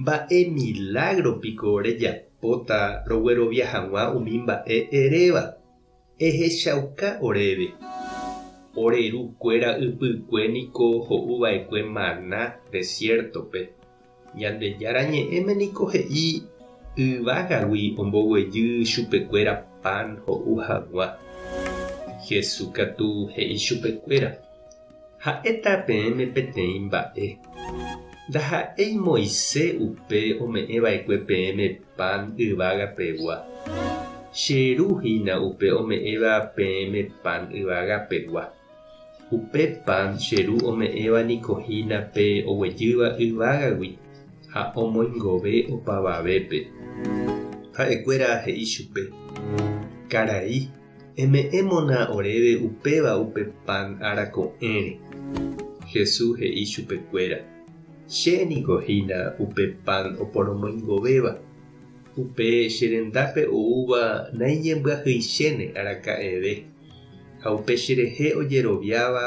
Mba'e milágro piko rejapóta roguerovia hag̃ua umi mba'e eréva? Ehechauka oréve. Ore ru kuéra ypykue niko ho'u va'ekue maná desiértope. Ñandejára Ñe'ẽme niko he'i yvágagui omboguejy chupekuéra pan ho'u hag̃ua. Jesús katu he'i chupekuéra, Ha'éta peẽme peteĩ mba'e. Ndaha'éi Moise upe ome'ẽ va'ekue peẽme pan yvága pegua. Che Ru hína upe ome'ẽva peẽme pan yvága pegua. Upe pan che Ru ome'ẽva niko hína pe oguejýva yvágagui ha omoingove opavavépe. Ha'ekuéra he'i chupe, Karai, Eme'ẽmona oréve upéva upe pan ára ko'ẽre. Jesús he'i chupekuéra, Che niko hína upe pan oporomoingovéva. Upe che rendápe oúva naiñembyahyichéne araka'eve, ha upe cherehe ojeroviáva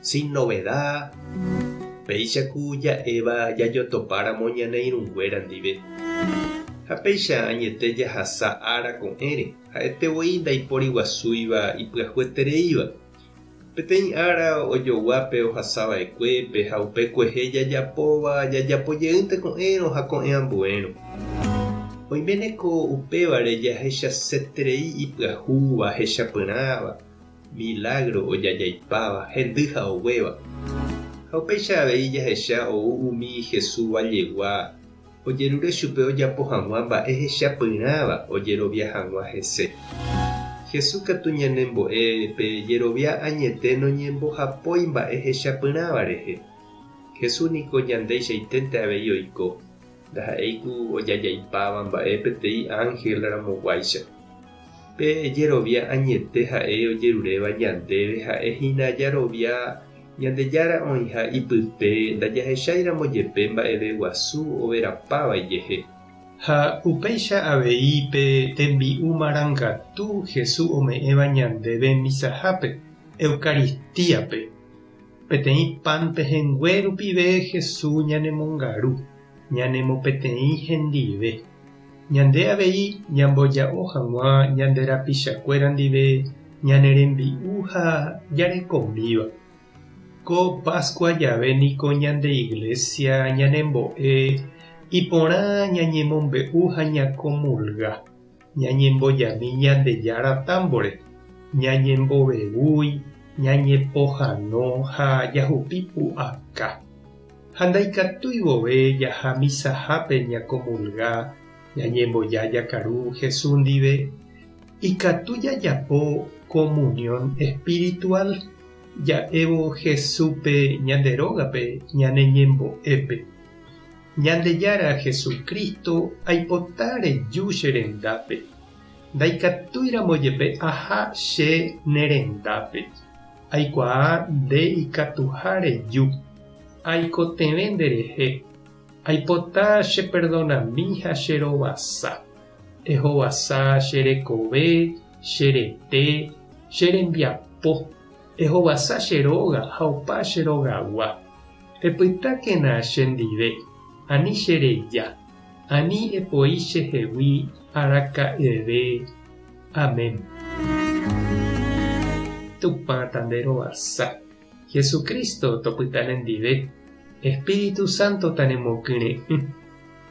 Sin novedad, péicha ku ja'éva jajotopáramo ñane irũnguéra ndive. Ha péicha añete jahasa ára ko'ẽre, ha'ete voi ndaiporiguasúiva ipyahuetereíva. Peteĩ ára ojogua pe ohasava'ekuépe ha upe kuehe jajapóva jajapo jeýnte ko'ẽrõ ha ko'ẽ ambuérõ. Oiméne ko upévare jahechaseterei ipyahúva, hechapyrãva, Milágro ojaja'ipáva, hendy ha oguéva. Ha upéicha avei jahecha ou umi Jesús vajegua, ojerure chupe ojapo hag̃ua mba'e hechapyrãva ojerovia hag̃ua hese. Jesús katu ñanembo'e pe jerovia añete noñembohapói mba'e hechapyrãva rehe. Jesús niko ñandeichaiténte avei oiko. Ndaha'éi ku ojajaipáva mba'e peteĩ ánhel ramoguáicha. Pe jerovia añete ha'e ojeruréva ñandéve ha'e hína jarovia Ñandejára oĩha ipype ndajahecháiramo jepe mba'eve guasu overapa vaijehe. Ha upéicha avei pe tembi'u marangatu Jesús ome'ẽva ñandéve misahápe, Eucaristíape. Peteĩ pan pehẽngue rupive Hesu ñanemongaru ñanemo peteĩ hendive. Ñande avei ñamboja'o hag̃ua ñande rapichakuéra ndive ñane rembi'u ha jarekomíva. Ko Pascua jave niko ñande Iglesia ñanembo'e iporã ñañemombe'u ha ñakomulga. ñañembojami Ñandejára támbore, ñañembovevúi, ñañepohano ha jahupi pu'aka. Ha ndaikatúi vove jaha misahápe ñakomulga ñañemboja jakaru Jesús ndive, ikatu jajapo komunión espiritual ja'évo Jesúspe ñande rógape ñane ñembo'épe. Ñandejára Jesucristo aipota reju che rendápe, ndaikatúiramo jepe aha che ne rendápe, aikuaa nde ikatuha reju, aikotevẽ nde rehe, aipota che perdonami ha che rovasa, ehovasa che rekove, che rete, che rembiapo, ehovasa che róga ha opa che rogagua. Epytákena chendive, ani che reja, ani epoi chehegui araka'eve. Amén. Tupã ta nde rovasa, Jesucristo topyta nendive, Espíritu Santo ta nemokyre'ỹ.